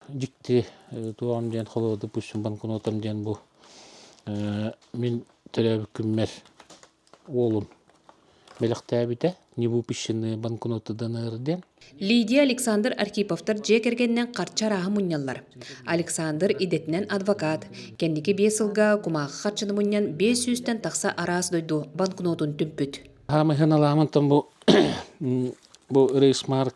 дьикти туоҕам диэн холобурду пустим банкнотам диэн бу мин төрөөбүт күммэр уолум бэлэхтээбитэ не выпущенные банкноты дэнэр диэн Лидия Александр Архиповтар дьиэ кэргэнинэн харчы арааһы мунньаллар. Александр идэтинэн адвокат. Кэнники биэс сылга кумаахы харчыны мунньан биэс сүүстэн тахса араас дойду банкнотун түмпүт. Хаамыһыаналаамантан бу бу рейсмарк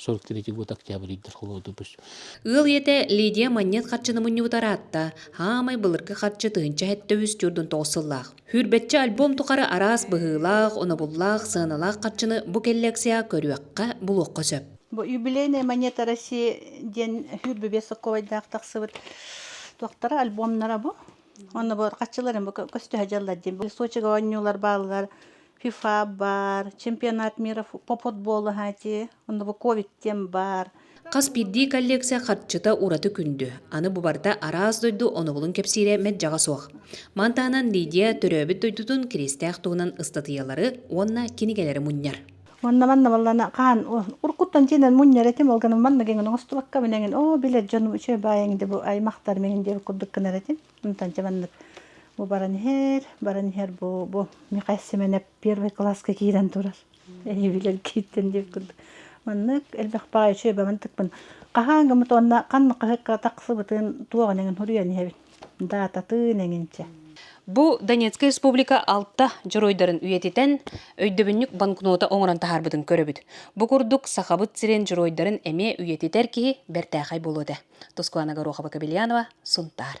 сорок третий год октябрьдер холодупус ыал ийэтэ лидия манньыат харчыны мунньубут араатта хаамай былыргы харчы тыһынча сэттэ үс төрдүн тоҕус сыллаах хүрбэччэ альбом тухары араас быһыылаах онобуллаах сыаналаах харчыны бу коллекцияҕа көрүөххэ булуохха сөп бу юбилейная монета россии диэн хүрбүбе соковайдаах тахсыбыт туохтара альбомнара бу онно бу харчыларын бу көстөһө дьаллар диэн бу сочига оонньуулар бааллар ФИФА баар, чемпионат миров по футболу аһаати, онно ковид тем баар. Хас биирдии коллекция харчыта ураты күндү. Аны бу барда араас дойду онобулун кэпсиирэ мэджаға суох. Мантанан Лидия төрөөбүт дойдутун киристээх туһунан ыстатыйалары уонна кинигэлери мунньар. Онна манна баллана kaan уркуттан жинен мунньар этим олганы манна ген оңостубакка менен о билет жону үчө баайың де бу аймактар мен де курдук кынар этим Онтон дьэ маннык бу баран иһэр, баран иһэр бу бу Михаил Семенов первый класска киирэн турар. Эйбилэр кииртэн диир курдук. Маннык элбэх баҕа үчүөйбэбин тыкпын. Хаһаан гыммыт уонна ханна хаһыкка тахсыбытын туох эҥин хуруйан иһэбин. Даататын эҥинчэ. Бу Донецкай Республика алта дьоруойдарын үйэтитэн, өйдөбүнньүк банкнота оҥорон таһаарбытын көрөбүт. Бу курдук Сахабыт сирин дьоруойдарын эмиэ үйэтитэр киһи бэртээхэй буолуо этэ. Тускуана Горохова-Кобельянова, Сунтаар.